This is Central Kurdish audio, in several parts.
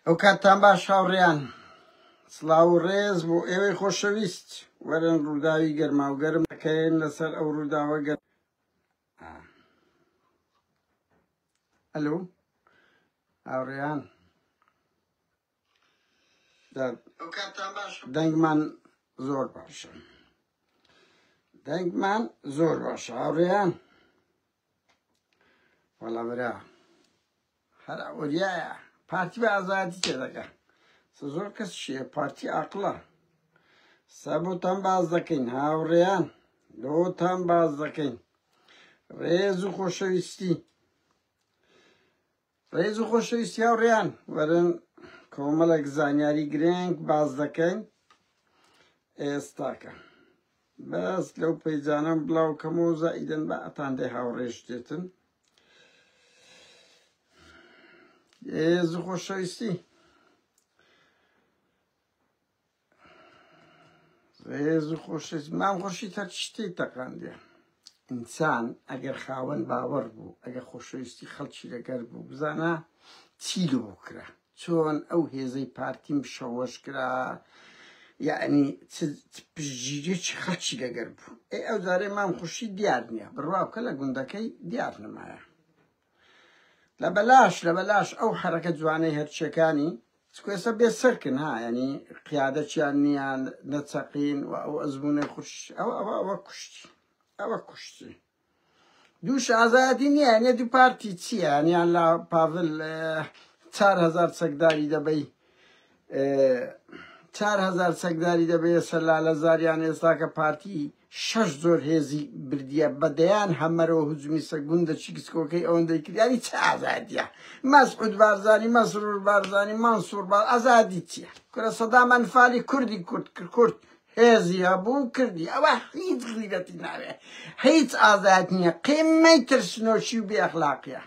ئەو کاتتان باش هاوڕێیان سڵاو و ڕێز بۆ ئێوەی خۆشەویست وەرن ڕووداوی گەرماوگەرم دەکەین لەسەر ئەو ڕووداوە گەر ئەلو هاوڕێیان دەنگمان زۆر باشە دەنگمان زۆر باشە هاوڕێیان وەڵا برا هەر ئەوریایە پارتی بە ئازادی تێ دەکە زۆر کەس شیە پارتی ئاقلە سەبوتان باز دەکەین هاوڕێیان لۆتان باز دەکەین ڕێز و خۆشەویستی ڕێز و خۆشەویستی هاوڕێیان وەرن کۆمەڵێک زانیاری گرنگ باز دەکەین ئێستاکە بەس لەو پەیجانەم بڵاو کەم و زائیدن بە ئەتاندەی هاوڕێش دێتن ڕێز و خۆشەویستی ڕێز و خۆشەویست مام خورشید هەر شتێک تەقاندێ ئینسان ئەگەر خاوەن باوەڕ بوو ئەگەر خۆشەویستی خەڵکی لەگەر بوو بزانە چی لۆ کرا چۆن ئەو هێزەی پارتیم شەوەش کرا یعنی پشتگیریی خەڵکی لەگەر بوو ئەی ئەو جارەی مام خورشید دیار نییە بڕوا بکە لە گوندەکەی دیار نمایە لە بەلاش لە بەلاش ئەو حەرەکە جوانەی هەرچیەکانی سکوێسە بێ سەرکن ها ینی قیادە چیان نییە نەچەقین و ئەو ئەزمونە خوش ئەوە ئەوە ئەوە کوشتی ئەوە کوشتی دووش ئازایەتی نییە نێ دوو پارتی چییە نیان لە پاڤل چار هزار چەکداری دەبەی چار هزار چەکداری دەبێت سەر لالە زاریان ئێستاکە پارتی شەش زۆر هێزی بردیە بە دەیان هەمەرەوە هجومی سەر گوندە چیکسکۆکەی ئەوەندەی کرد یانی چ ئازادیە مەسعود بارزانی مەسرور بارزانی مەنسور با ئازادی چیە کورە سەدام ئەنفالی کوردی کورد کرد کورد هێزی هەبوو کردی ئەوە هیچ غیرەتی ناوێ هیچ ئازاد نییە قیمەی ترسنۆشی و بێخلاقیە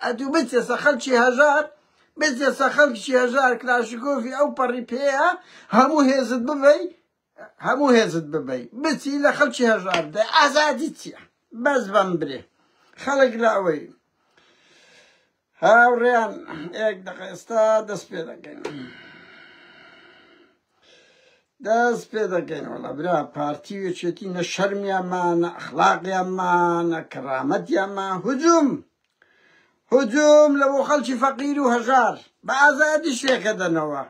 ئەدوو بچێسە خەلکی هەژار بچێسە خەلکی هەژار کلاشگۆفی ئەو پەڕی پێەیە هەموو هێزت ببەی هەموو هێزت ببەی بچی لە خەڵکی هەژار بدەی ئازادی چییە بەس بەم برێ خەڵک لە ئەوەی هاوڕێیان ئێک دەقە ئێستا دەست پێ دەکەین دەست پێ دەکەین وڵە برا پارتی وێچێتی نە شەرمیانمان نە ئەخلاقیانمان نە کەڕامەتیانمان هجووم هجووم لە بۆ خەڵکی فەقیر و هەژار بە ئازادی شێکە دەنەوە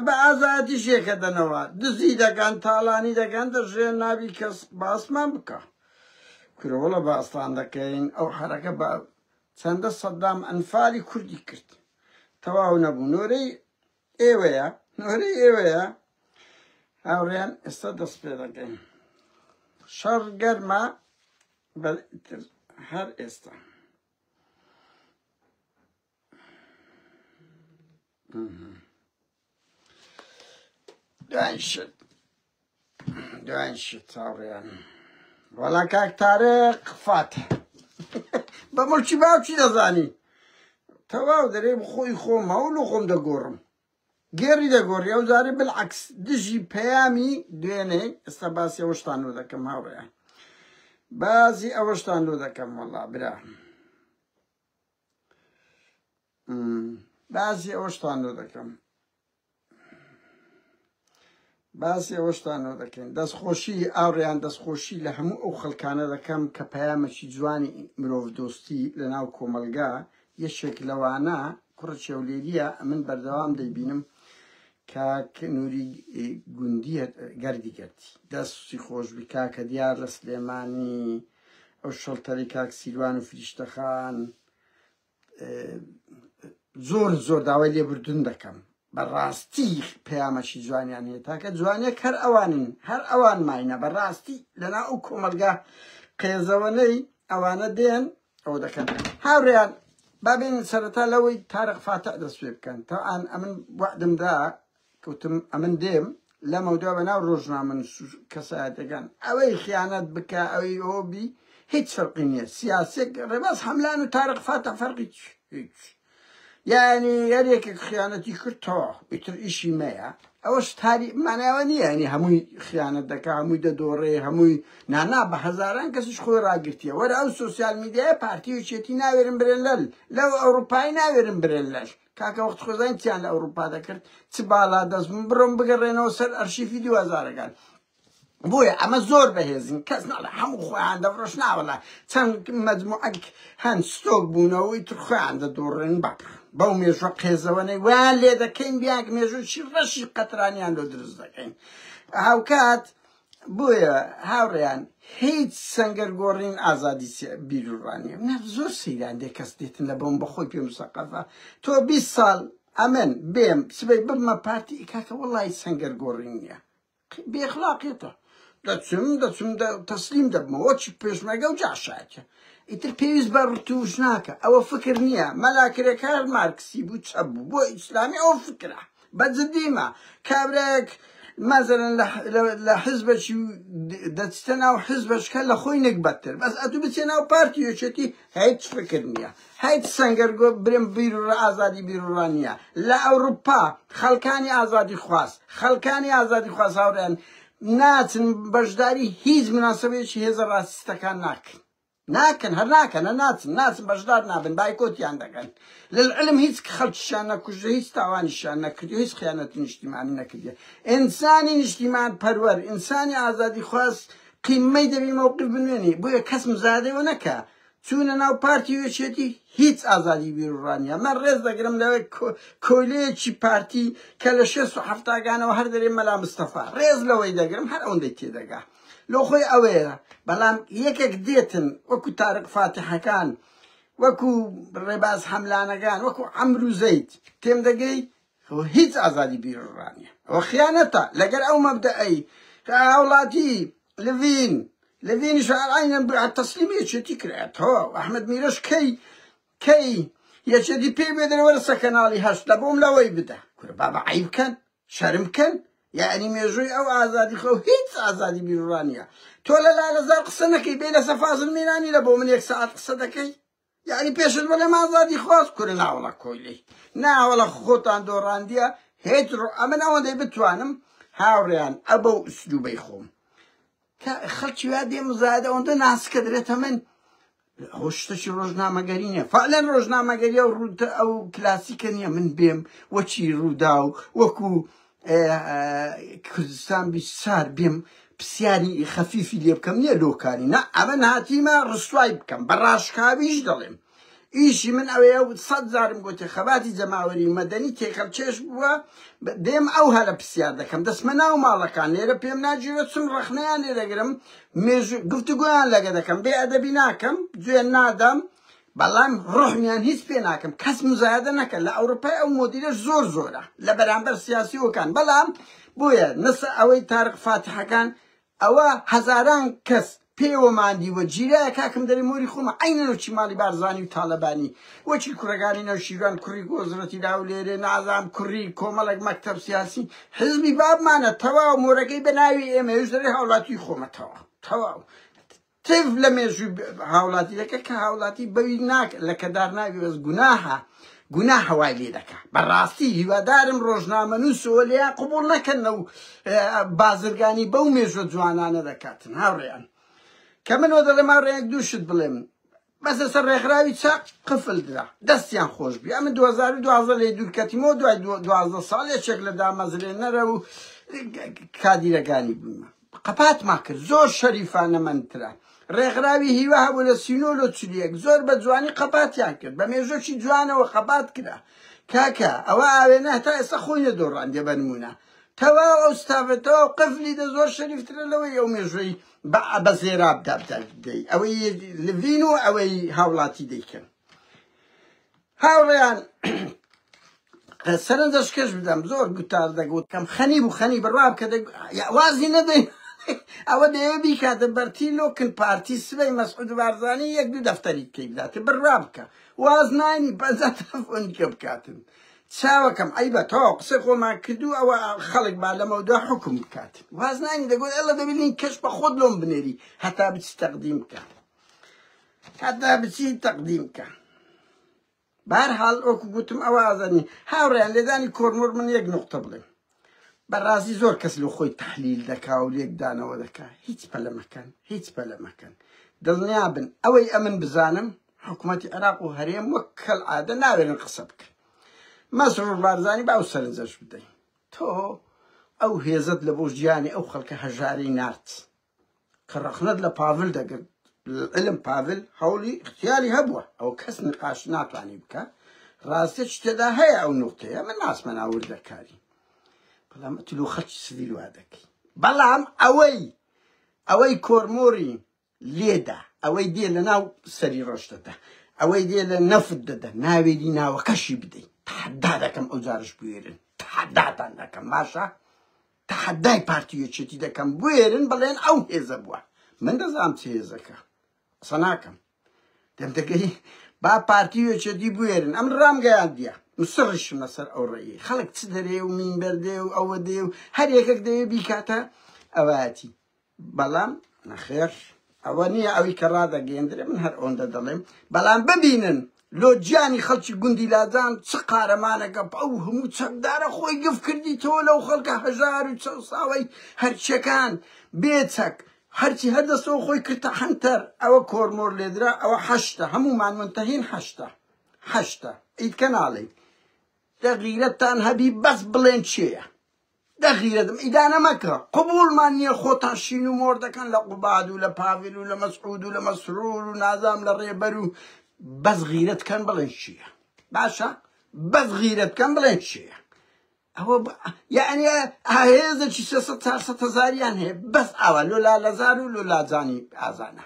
بە ئازایەتی شێکە دەنەوە دزی دەکەن تاڵانی دەکەن دەژێن نابی کەس باسمان بکە کورە وەڵە باستان دەکەین ئەو حەرەکە بە چەندە سەدام ئەنفالی کوردی کرد تەواو نەبوو نۆرەی ئێوەیە نۆرەی ئێوەیە هاوڕێن ئێستا دەست پێ دەکەین شەڕ گەرمە بەتر هەر ئێستا دوای شت دوای شت چاوڕیان وەڵا کاک تارق فات بە مڵکی باوکی دەزانی تەواو دەرێم خۆی خۆم هەوڵ و خۆم دەگۆڕم گێری دەگۆڕی ئەو جارێ بالعکس دژی پەیامی دوێنێ ئێستا باسی ئەوشتان و دەکەم هاوڕێیان بازی ئەوەشتان لۆ دەکەم وەڵا برا باسی ئەوەشتان لۆ دەکەم باسی ئەوەشتان لۆ دەکەین دەستخۆشی ئاڕیان دەستخۆشی لە هەموو ئەو خەڵکانە دەکەم کە پەیامەکی جوانی مرۆڤ دۆستی لە ناو کۆمەلگا یەکێک لەوانە کوڕە چێولێریە من بەردەوام دەیبینم کاک نوری گوندی گەردی گەردی دەستی خۆش بی کاکە دیار لە سلێمانی ئەو شەڵتەرەی کاک سیروان و فریشتەخان زۆر زۆر داوای لێبردن دەکەم بەڕاستی پەیامەشی جوانیان هەیە تاکە جوانێک هەر ئەوانن هەر ئەوان ماینە بەڕاستی لەنا ئەو کۆمەلگا قێزەوەنەی ئەوانە دێن ئەوە دەکەن هاوڕیان بابێن سەرەتا لەوەی تارق فاتح دەست پێ بکەن تاان ئەمن وەعدمدا کەوتم ئەمن دێم لەمەودا بە ناو ڕۆژنامە کەسایەتەکان ئەوەی خیانەت بکە ئەوەی ئەو بی هیچ فەرقی نییە سیاسێک ڕێباز هەملان و تارق فاتە فەرقی هیچ یعنی هەر یەکێک خیانەتی کردەوە ئیتر ئیشی مەیە ئەوە شتاری ماناوە نییە ینی هەمووی خیانەت دەکە هەمووی دەدۆڕێ هەمووی نانا بە هەزاران کەسیش خۆی ڕاگرتیە وەرە ئەو سوسیال میدیای پارتیوچێتی ناوێرن برێن لەل لەو ئەوروپای ناوێرن برێن لەش کاکە وەخت خۆزانین چیان لە ئەوروپا دەکرد چ باڵا دەست بوون بڕۆن بگەڕێنەوە سەر ئەرشیفی دووهەزارەکان بۆیە ئەمە زۆر بەهێزن کەس ناڵێ هەموو خۆیان دەفرۆش ناوەڵە چەند مەجموعەک هەند ستۆک بوونەوەی تر خۆیان دەدۆڕێن بەڕ بەو مێژوە قێزەوەنەی وان لێ دەکەین بیاک مێژووی ڕەشی قەترانیان لۆ دروست دەکەین هاوکات بۆیە هاوڕێیان هیچ سەنگەر گۆڕین ئازادی بیرورانیە نە زۆر سەیران دێ کەس دێتن لە بۆم بەخۆی پێ مسەقەفە تۆ 20 ساڵ ئەمن بێم سبەی ببمە پارتی ئیکاکە وڵی سەنگەر گۆڕین نیە بێخلاقێتە دەچم دەچم تەسلیم دەبمەوە چی پێشمەگە و جاشاکە ئیتر پێویست بە ڕتوش ناکە ئەوە فکر نییە مەلاکرێکار مارکسی بوو چە بوو بۆ ئیسلامی ئەو فکرە بە جدی مە کابرایەک مەزەلەن لە لە حزبەکی و دەچتە ناو حزبەشکە لە خۆی نەک بەتر بەس ئەتو بچێ ناو پارتی یەکێتی هیچ فکر نییە هیچ سەنگەر گۆ برم بیر و ئازادی بیرڕا نییە لە ئەوروپا خەڵکانی ئازادی خواست خەڵکانی ئازادی خواست هاوڕێن ناچن بەشداری هیچ مناسبەیەکی هێزە ڕاستەکان ناکەن ناکەن هەر ناکەنە ناچن ناچن بەشدار نابن بایکۆتیان دەکەن للعلم هیچ خەڵکیشیان نەکوژە هیچ تاوانیشیان نەکردو هیچ خیانەتی نیشتیمانی نەکردیە ئینسانی نیشتیمان پەروەر ئینسانی ئازادی خواز قیمەی دەبی مەوقف بنوێنی بۆیە کەس مزادەوە نەکە چوونە ناو پارتی وێچێتی هیچ ئازادی بیرڕانیە من ڕێز دەگرم لەوێ کۆیلەیەکی پارتی کە لە شێست و حەفتاگانەوە هەر دەرێ مەلا مستەفا ڕێز لەوەی دەگرم هەر ئەوەندەی تێدەگا لۆ خۆی ئەوەیە بەڵام یەکێک دێتن وەکو تارق فاتحەکان وەکو ڕێباز حەملانەکان وەکو عەمرو زەید تێم دەگەی هو هیچ ئازادی بیرڕانیە ئەوە خیانەتە لەگەر ئەو مەبدەئی کە هاوڵاتی لڤین لڤین شعرعینە تەسلیمی یەکێتی کرایە تۆ ئەحمد میرەش کەی کەی یەکێتی پێی بێدەرەوەرە سە کەناڵی هەشت لە بۆم لەوەی بدە کورە بابا عیب کەن شەرم کەن یەعنی مێژووی ئەو ئازادی خۆ هیچ ئازادی بیروڕا نیە تۆ لە لالەزار قسە نەکەی بێ لەسە فازل میرانی لە بۆ من یەک سەعات قسە دەکەی یعنی پێشت بەڵێ مازادی خواست کورە ناوەڵە کۆیلی ناوەڵە خۆتان دۆڕاندیە هێج ڕۆ ئەمن ئەوەندەی بتوانم هاوڕێیان ئەبە و ئسلوبەی خۆم کە خەڵکی وا دێ مزایدە ئەوەندە ناسکە درێتە من ئەوە شتەکی ڕۆژنامەگەری نیە فعلەن ڕۆژنامەگەری ئەو ڕووتە ئەو کلاسیکە نییە من بێم وەچی ڕوودا و وەکو کوردستان بیسار بێم پرسیاری خەفیفی لێ بکەم نیە لۆکانی نا ئەمە ناتیمە ڕسوای بکەم بە ڕاشکاویش دەڵێم ئیشی من ئەوەیە و سەد جارم گۆتێ خەباتی جەماوەری و مەدەنی تێکەڵ چێش بووە دێم ئەو هەلە پرسیار دەکەم دەسمە ناو ماڵەکان لێرە پێم ناجیرە چون ڕەخنەیان لێ دەگرم مێژوو گفتوگۆیان لەگە دەکەم بێ ئەدەبی ناکەم جوێ نادەم بەڵام ڕحمیان هیچ پێ ناکەم کەس مزایدە نەکە لە ئەوروپای ئەو مۆدیلە زۆر زۆرە لە بەرامبەر سیاسیەکان بەڵام بۆیە نسە ئەوەی تارق فاتحەکان ئەوە هەزاران کەس پێیەوە ماندیوە جیرایە کاکم دەرێ مۆری خۆمە عەینەن وەچی ماڵی بارزانی و تالەبانی وەچی کوڕەگانی نەوشیروان کوڕی گۆزرەتی لاولێرێ نازام کوڕی کۆمەڵەک مەکتەب سیاسی حیزبی بابمانە تەواو مۆرەکەی بەناوی ئێمە یش دەرێ هاولاتی خۆمە تەواو تەواو تف لە مێژووی هاوڵاتی دەکە کە هاوڵاتی بەوی ناک لە کەدار ناوی بەس گوناهە گوناه هەوای لێ دەکا بەڕاستی هیوادارم ڕۆژنامە نووسەوە لێیان قوبوڵ نەکەن و بازرگانی بەو مێژە جوانانە دەکاتن هاوڕێیان کە منەوە دەڵێم هاوڕێیان دووشت بڵێم بەسە سەر ڕێکخراوی چەق قفل درا. دەستیان خۆش بی. ئەمن دوو هەزار و دوازدە لێی دوور کەتیمەوە دوای دوازدە ساڵ یەکێک لە دامەزرێنەرە و کادیرەکانی بوومە. قەپاتمان کرد. زۆر شەریفانە مەنترە. ڕێکخراوی هیوا هەبوو لە سی و نۆ لۆ چل و یەک. زۆر بە جوانی قەپاتیان کرد. بە مێژووێکی جوانەوە قەپات کرا. کاکە ئەوە ئاوێنە هەتا ئێستا خۆی نەدۆڕاندیە بە نموونە. تەواو ئەو ستافە تەواو قفلی دە زۆر شەریفترە لەوەی ئەو مێژووی بە بە زێراب دابدای دەی ئەوەی لڤین و ئەوەی هاوڵاتی دەیکەن هاوڕێیان سەرنجەش کەش بدەم زۆر گوتار دەگوت کەم خەنی بوو خەنی بڕاب کە وازی نەدەی ئەوە دەیە بیکاتە بەرتی لۆکن پارتی سبەی مەسعود بارزانانی یەک دوو دەفتەری بکەی بداتێ بڕا بکە واز نانی بەزە تەلەفۆنی کە بکاتن چاوەکەم عەیبە تەواو قسەی خۆمان کردو ئەوە خەڵک با لەمەودوا حکم بکات واز نانی دەگوت ئەڵە دەبینی کەش بە خۆت لۆم بنێری هەتا بچی تەقدیم بکە هەتا بچی تەقدیم بکە بارحاڵ ئۆکو گوتم ئەوە ئازانی هاوڕیان لێدانی کۆرمۆر من یەک نقطە بڵێم بەڕازی زۆر کەس لۆ خۆی تەحلیل دەکا و لێکدانەوە دەکا هیچ پەلە مەکەن هیچ پەلە مەکەن دڵنیا بن ئەوەی ئەمن بزانم حکومەتی عێراق و هەرێم وەک کەل عادە ناوێرن قسە بکەن مەسرور بارزانی با و سەرنجەش بدەین تۆ ئەو هێزت لە بۆ ژیانی ئەو خەڵکە هەژارەی نارد کە ڕەخنەت لە پاڤل دەگرت لەعلم پاڤل هەوڵی اختیاری هەبووە ئەوە کەس نقاش ناتوانی بکە ڕاستە چ تێدا هەیە ئەو نوقتەیە من ناسمە ناوردەکاری بەڵام تلو خەچ سڤیل وا دەکەی بەڵام ئەوەی ئەوەی کۆرمۆری لێدا ئەوەی دێ لە ناو سەری ڕۆژ دەدا ئەوەی دێ لە نەفت دەدا ناوێری ناوەکەشی بدەیت تحدا دەکەم ئەو جارش بوێرن تحداتان دەکەم باشە تەحەدای پارتی و یەکێتی دەکەم بوێرن بڵێن ئەو هێزە بووە من دەزانم چ هێزەکە قسە ناکەم دەمدەگەی با پارتی و یەکێتی بوێرن ئەم ڕامگەیاندیە مسڕشم لەسەر ئەو ڕێی خەڵک چ دەرێ و مینبەر دێ و ئەوە دێ و هەر یەکەک دەوێ بیکاتە ئەوەتی بەڵام نەخێر ئەوە نییە ئەوی کە ڕادەگەیەندرێ من هەر ئەوەندە دەڵێم بەڵام ببینن لۆ گیانی خەڵکی گوندی لاجان چ قارەمانەکە ئەو هەموو چەکدارە خۆی گف کردیتەوە لەو خەڵکە هەژار و چەوساوەی هەرچیەکان بێچەک هەرچی هەردەستەوە خۆی کردتە حەنتەر ئەوە کۆرمۆر لێدرا ئەوە حەشتە هەمومان منتەهین حەشتە حەشتە ئیتکە ناڵێن دەغیرەتان هەبی بەس بڵێن چێە دەغیرەتم ئیدانە مەکە قبوڵمان نیە خۆتان شین و مۆر دەکەن لە قوباد و لە پاڤل و لە مەسعود و لە مەسرور و نازام لە ڕێبەر و بەس غیرەت کەن بڵێن چیە باشە بەس غیرەت کەن بڵێن چیە ئەوە یعنی هێزێکی سێسە چارسە هەزاریان هەیە بەس ئاوا لۆ لالەزار و لۆ لاجانی ئازانە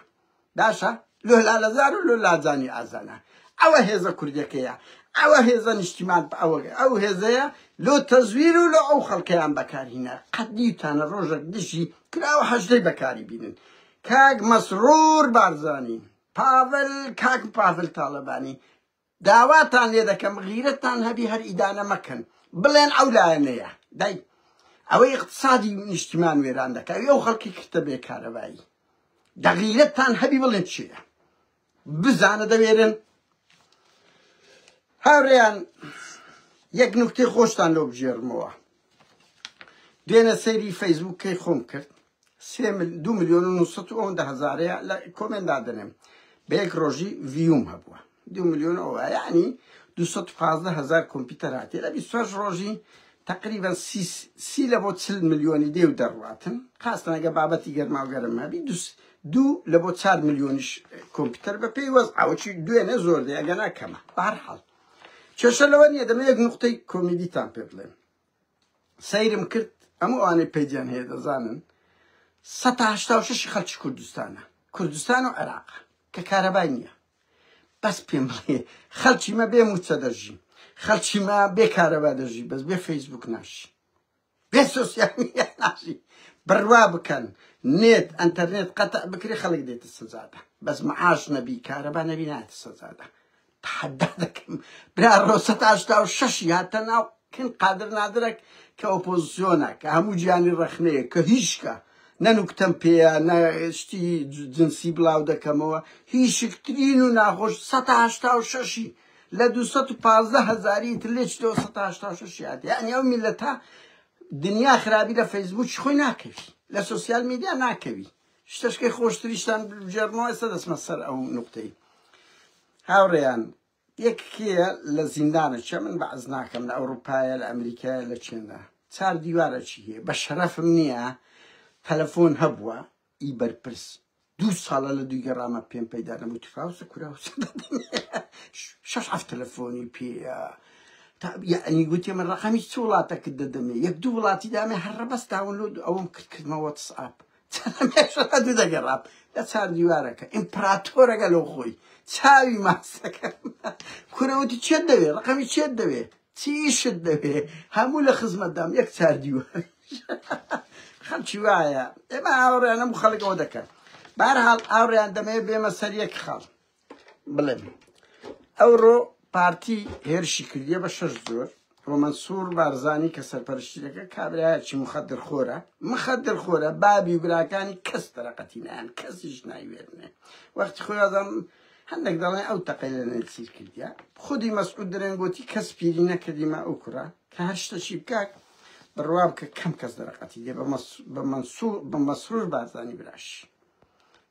باشە لۆ لالەزار و لۆ لازانی ئازانە ئەوە هێزە کوردەکەیە ئەوە هێزە نیشتیمان بە ئەوە ئەو هێزەیە لۆ تەزویر و لۆ ئەو خەڵکەیان بەکارهینە قەت دیوتانە ڕۆژێک دژی کراوە حەشدەی بەکاری بینن کاک مەسرور بارزانی پاڤل کاک پاڤل تاڵەبانی داواتان لێ دەکەم غیرەتتان هەبی هەر ئیدانە مەکەن بڵێن ئەو لایەنەیە دای ئەوەی اقتصادی نیشتیمان وێران دەکات ئەو خەڵکی کردە بێ کارەبایی دە غیرەتتان هەبی بڵێن چیە بزانە دەوێرن هاوریان یەک نوکتی خۆشتان لۆ بژێرمەوە دوێنە سەیری فەیسبوکەی خۆم کرد سێ مل دوو ملیۆن و نووسەد و ئەوەندە هەزارەیە لە کۆمێن دادەنێم بە یەک ڕۆژی ڤیوم هەبووە دوو ملیۆن ئەوە یعنی دوو سەد و پازدە هەزار کۆمپیوتەر هاتی لە بیست و شەش ڕۆژی تقریبا سی سی لە بۆ چل ملیۆنی دێ و دەڕواتن خاستەنەگە بابەتی گەرما و گەرم هەبی دوو دوو لە بۆ چار ملیۆنیش کۆمپیوتەر بە پێی وەز ئاوچی دوێنە زۆر دەیەگەنا کەمە بەهەرحاڵ کێشە لەوە نییە دەمە یەک نقطەی کۆمیدیتان پێ بڵێم سەیرم کرد ئەم ئەوانەی پەیجیان هەیە دەزانن سە هشتا و شش خەلکی کوردستانە کوردستان و عێراق کە کارەبای نییە بەس پێم بڵێ خەلکی مە بێ موچە دەژی خەلکی مە بێ کارەبا دەژی بەس بێ فەیسبوک ناشی بێ سوسیال ناشی بڕوا بکەن نێت ئەتەرنێت قەتە بکری خەڵک دێتە سزادا بەس معاش نەبی کارەبا نەبی ناتە سزادا تەحەدا دەکەم برا ڕۆسەت هەشتا و شەشی هاتە ناو کن قادر نادرەک کە ئۆپۆزسیۆنە کە هەموو گیانی ڕەخنەیە کە هیچکە نە نوکتەم پێیە نە شتی جنسی بڵاو دەکەمەوە هیشکترین و ناخۆش سەد و هەشتا و شەشی لە دوو سەد و پازدە هەزاری تر لێ چتەوە سەد و هەشتا و شەش یادی یعنی ئەو میلەتە دنیا خراپی لە فەیسبووکی خۆی ناکەوی لە سۆسیال میدیا ناکەوی شتەشکەی خۆشتریشتان بگێڕنەوە ئێستا دەچمە سەر ئەو نوقتەی هاوڕێیان یەک کێیە لە زیندانە چێ من بەعز ناکەم لە ئەوروپایە لە ئەمریکایە لە چێندا چار دیوارە چی هەیە بە شەرەفم نییە تەلەفۆن هەبووە ئی بەرپرس دوو ساڵە لە دوی گەڕامە پێم پەیدا نەبوو تفاوسە کورا شەش هەفت تەلەفۆنی پێە یعنی گوتی من ڕقمی چ وڵاتەکە دەدەمێ یەک دوو وڵاتی دامێ هەر ڕەبەس داونلۆد ئەوم کرد کردمەوە تسعاپ چەندەمێشەکە دەگەڕام لە چار دیوارەکە ئیمپراتۆرەکە لەو خۆی چاوی ماسەکە کورەوتی چێت دەوێ ڕقەمی چێت دەوێ چیشت دەوێ هەموو لە خزمەتدام یەک چار دیوار خەڵکی وایە ئێمە ئاوڕێنەم خەڵکەوە دەکەن بارحاڵ ئاوڕیان دەمەیە بێمە سەر یەک خەڵ بڵێم ئەوڕۆ پارتی هێرشی کردیە بە شەش زۆر ڕۆمەنسوور بارزانانی کە سەرپەرشتی دەکە کابراایکی مخدر خۆرە مخدر خۆرە بابی و براکانی کەس دەرەقەتی نیان کەسیش نایوێرنێ وەختی خۆیازم هەندێک دەڵێن ئەو تەقی لە نەسیر کردە خودی مەسعود درێنگوتی کەس پیری نەکردیمە ئەو کوڕە کە هەر شتە چی بکات بڕوا بکە کەم کەس دەرەقەتی دێ بە مەسوور بە مەسرور بارزانانی براش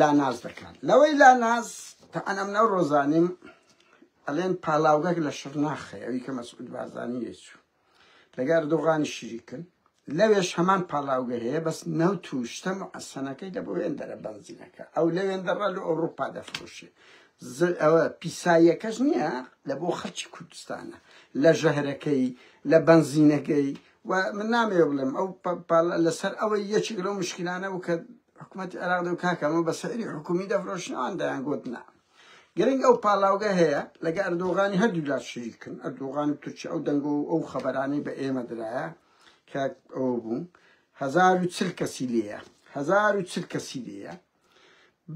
لاناز دەکات لەوەی لاناز تەعەن ئەم نەو ڕۆزانیم ئەلێن پاڵاوگەک لە شرناخێ ئەوی کە مەسعود بازانی لێچوو لەگەر دۆغانی شیریکن لەوێش هەمان پاڵاوگە هەیە بەس نەوت و شتە معەسەنەکەی دە بۆ وێندەرە بەنزینەکە ئەو لە وێندەڕە لە ئەوروپا دەفرۆشێ ئەوە پیساییەکەش نییە لە بۆ خەڵکی کوردستانە لە ژەهرەکەی لە بەنزینەکەی وە من نامەوێ بڵێم ئەو پاڵ لەسەر ئەوەی یەکێک لەو مشکلانە بوو کە حکوومەتی عێراق دەو کاکە ئەمە بە سەعری حکومی دەفرۆشنەوان دەیان گوت نا گرنگ ئەو پاڵاوگە هەیە لەگە ئەردۆغانی هەردوو لا شریکن ئەردۆغان و تورکیا ئەو دەنگۆ و ئەو خەبەرانەی بە ئێمە درایە کە ئەو بوو هزار و چل کەسی لێیە هزار و چل کەسی لێیە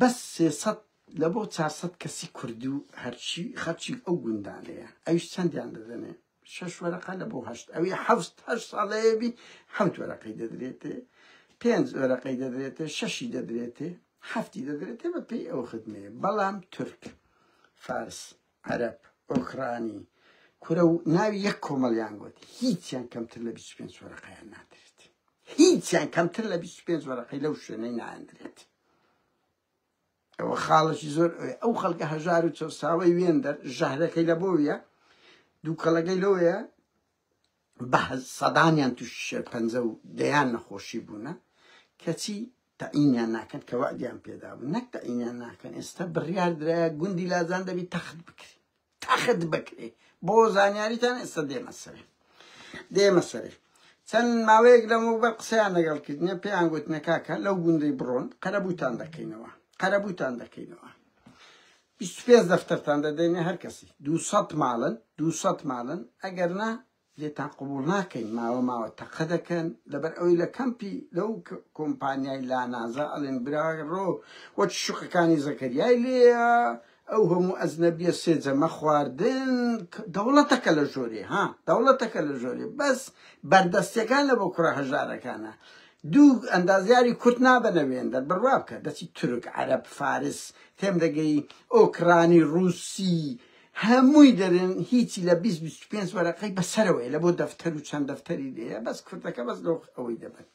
بەس سێسەد لە بۆ چارسەد کەسی کوردی و هەرچی خەرچی ئەو گوندانەیە ئەویش چەندیان دەدەنێ شەش وەرەقە لە بۆ هەشت ئەوی حەفت هەشت ساڵەیەبی حەوت وەرەقەی دەدرێتێ پێنج وەرەقەی دەدرێتێ شەشی دەدرێتێ حەفتی دەدرێتێ بە پێی ئەو خدمێ بەڵام تورک فارس عەرب ئۆکرانی کورە و ناوی یەک کۆمەڵیان گوت هیچیان کەمتر لە 25 وەرەقەیان نادرێت هیچیان کەمتر لە 25 وەرەقەی لەو شوێنەی ناندرێت ئەوە خاڵەکی زۆر ئەوێ ئەو خەڵکە هەژار و چەساوەی وێندەر ژەهرەکەی لە بۆویە دووکەڵەکەی لەوەیە بە سەدانیان تووشی شێرپەنجە و دەیان نەخۆشی بوونە کەچی تەعینیان ناکەن کە وەعدیان پێدابوو نەک تەعینیان ناکەن ئێستا بڕیار درایە گوندی لازان دەبی تەخت بکری تەخت بکرێ بۆ زانیاریتان ئێستا دێمە سەرێ دێمە سەرێ چەند ماوەیەک لەمەوبەر قسەیان لەگەڵ کردنە پێیان گوتنە کاکە لەو گوندەی بڕۆن قەرەبووتان دەکەینەوە قەرەبووتان دەکەینەوە پێ دەفتەرتان دەدەینە هەر کەسی دووسە ماڵن دووسە ماڵن ئەگەر نا لێتان قبوڵ ناکەین ماوە ماوە تەقە دەکەن لەبەر ئەوەی لە کەمپی لەو کۆمپانیای لانازە ئەڵێن براڕۆ وەک شوقەکانی زەکەریای لێیە ئەو هەموو ئەزنەبیە سێجەمە خواردن دەوڵەتەکە لە ژۆرێ ها دەوڵەتەکە لە ژۆرێ بەس بەردەستەکان لە بۆ کوڕە هەژارەکانە دوو ئەندازیاری کورت نابەنە وێندەر بڕوا بکە دەچی تورک عەرب فارس تێم دەگەی ئۆکرانی ڕووسی هەمووی دەرێن هیچی لە بیست بیست و پێنج وەرەقەی بە سەرەوەیە لە بۆ دەفتەر و چەند دەفتەری لێیە بەس کوردەکە بەس لۆخ ئەوەی دەبن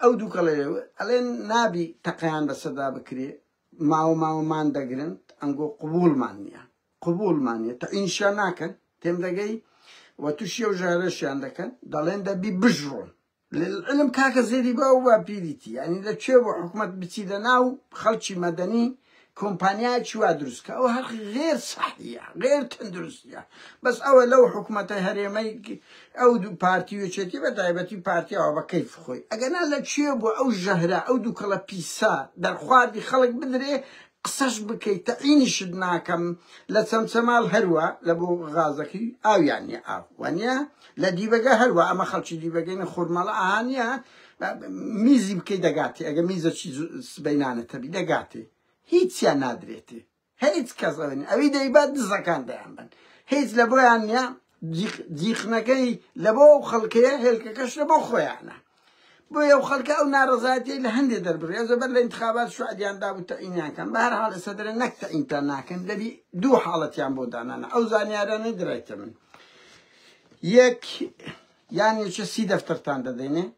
ئەو دوو کەڵێ ئەڵێن نابی تەقیان بەسەدا بکرێ ماوە ماوەمان دەگرن ئەنگۆ قوبولمان نییە قوبولمان نیە تا ئینشیان ناکەن تێم دەگەی و تووشی و ژارەشیان دەکەن دەڵێن دەبی بژڕۆن للعلم کاکە زێدی بە و با بیریتی یانی لە کوێ بۆ حکومەت بچی لە ناو خەڵکی مەدەنی کۆمپانیایەکی وا دروست کە ئەو هەر غێر سەحیە غێر تەندروستە بەس ئەوە لەو حکوومەتە هەرێمەی ئەو دوو پارتی وچێتی بە تایبەتی پارتیەوە بە کەیف خۆی ئەگەنا لە کوێ بۆ ئەو ژەهرە ئەو دووکەڵە پیسە دەرخواردی خەڵک بدرێ قسەش بکەی تەعینیشت ناکەم لە چەمچەماڵ هەروا لە بۆ غازەکەی ئاویان نیە ئاو وانە لە دیبەگە هەروا ئەمە خەڵکی دیبەگەین خورمەڵە ئاهانە میزی بکەی دەگاتی ئەگە میزەکی سبەینانە تەبی دەگاتی هیچیان نادرێتی هیچ کەس ئەوێن ئەوی دەیبات دزەکان دەیان بن هیچ لە بۆیان نیە جیقنەکەی لەبۆ ئەو خەڵکەیە هێلکەکەش لەبۆ خۆیانە بۆیە ئەو خەڵکە ئەو نارەزایەتی لە هەندێ دەربڕیا زەبەر لە انتخابات شعدیان داب و تەعینیان کەن بە هەر حاڵ ئێستا دەرێن نەک تەعینتان ناکەن دەبی دوو حاڵەتیان بۆ دانانە ئەو زانیارانەی درایتە من یەک یان نوچە سی دەفتەرتان دەدەینێ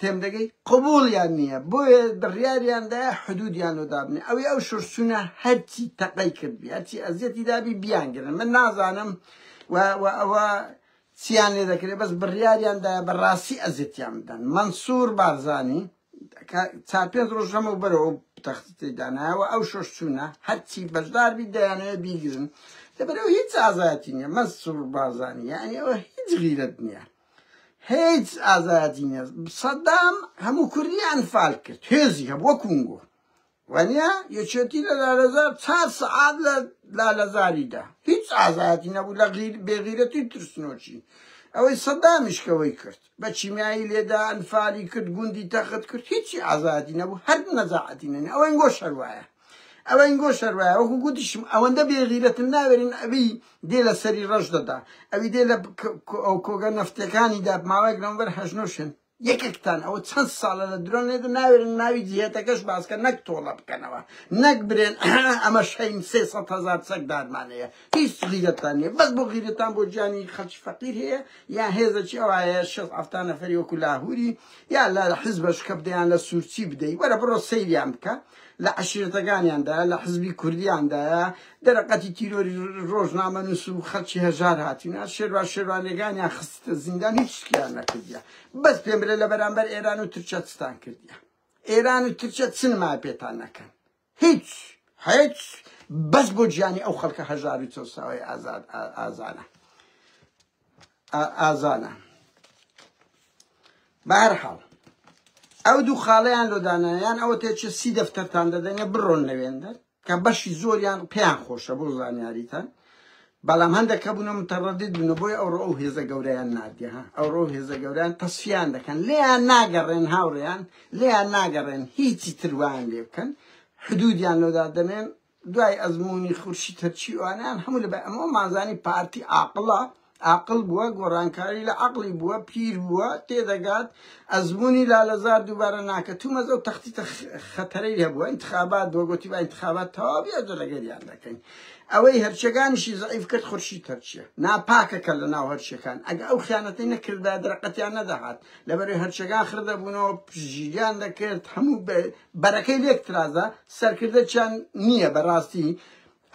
تێمدەگەی قبوڵیان نییە بۆیە بڕیاریان دا حدودیان و دابنێ ئەوی ئەو شورچونە هەرچی تەقەی کردبی هەرچی ئەزیەتی دابی بیانگرن من نازانم و ئەوە چیان لێ دەکرێت بەس بڕیاریان دا بەڕاستی ئەزیەتیان بدەن منسوور بارزانی چار پێنج ڕۆژ لەمە بەرەوە تەختی دانایەوە ئەو شۆش چوونە هەرچی بەشداربی دەیانەیە بیگرن لەبەرەوە هیچ ئازایەتی نیە مەسوور بازانانی ئەوە هیچ غیرت نییە هیچ ئازادی نیە سەدام هەموو کوردیان فال کرد هێزی هەبوو وە کونگۆ وەنیا یەکێتی لە لالەزار چار سەعات لە لالەزاریدا هیچ ئازادی نەبوو لە غیر بێغیرەتی ترسنۆکی ئەوەی سەدامیشکەوەی کرد بە چیمیایی لێدا ئەنفالی کرد گوندی تەخت کرد هیچی ئازادی نەبوو هەر نەزاعەتی نەنی ئەوەی گۆ شەروایە ئەوە ئینگۆ شەروایە وەکو گوتیشم ئەوەندە بێغیرەتن ناوێرین ئەوی دێ لە سەری ڕەش دەدا ئەوی دێ لە کۆگە نەفتەکانی دا ماوەیەک لەمبەر هەژنۆشن یەکێکتان ئەوە چەند ساڵە لە درۆن لێت ناوێرن ناوی جیهێتەکەش باسکە نەک تۆڵە بکەنەوە نەک برێن ئەمە شەین سێ سە هزار چەک دادمانەیە هیچ غیرەتان نیە بەس بۆ غیرەتان بۆ جانی خەچ فەقیر هەیە یا هێزەکی ئەوایە شە ئەفتا نەفەری وەکو لاهوری یا لە حزبەش کە بدەیان لە سوورچی بدەی وەرە بڕۆ سەیریان بکە لە عەشیرەتەکانیاندا، لە حزبی کوردییاندایە، دەرەقەتی تیرۆری رۆژنامەنووس و خەڵکی هەژار هاتوونە، شێروان شێروانییەکانیان خستتە زیندان، هیچ شتێکیان نەکردیە. بەس پێم بلێ لە بەرامبەر ئێران و تورکیا چتان کردیە؟ ئێران و تورکیا چ نمایە پێتان نەکەن؟ هیچ! هیچ! بەس بۆ گیانی ئەو خەڵکە هەژار و چەوساوەی ئازانە. ئازانە بەهەرحاڵ ئەو دوو خاڵیان لۆ دانایان ئەوە تێچە سی دەفتەرتان دەدەنێ بڕۆن لەوێندەر کە بەشی زۆریان پێیان خۆشە بۆ زانیاریتان بەڵام هەندێک کە بوونە متەڕەدید بوون بۆی ئەو ڕۆ ئەو هێزە گەوریان نادیە ئەو ڕۆ هێزە گەوریان تەسفیان دەکەن لێیان ناگەڕێن هاوڕێیان لێیان ناگەڕێن هیچی تروان لێ بکەن حدودیان لۆدا دەنێن دوای ئەزموونی خورشید تەرچیوانیان هەموو لە بە ئەمەوەمان زانی پارتی عاقڵە، عاقڵ بووە، گۆڕانکاری لە عەقڵی بووە، پیر بووە، تێدەگات، ئەزموونی لالەزار دووبارە ناکە، تومەز ئەو تەختیتە خەتەرەی هەبووە، ئینتخابات بووە، گۆتی با ئینتخابات تەواو بێ ئەوجە لەگەریان دەکەین. ئەوەی هەرچیەگانیشی زەعیف کرد خورشید تەرچیە ناپاکەکە لەناو هەرچیەکان، ئەگە ئەو خیانەتەی نەکردبایە دەرەقەتیان نەدەهات، لەبەرەی هەرچەگا خڕ دەبوونەوە پشتگیریان دەکرد هەموو بەرەکەی لێک ترازا سەرکردەچیان نییە بەڕاستی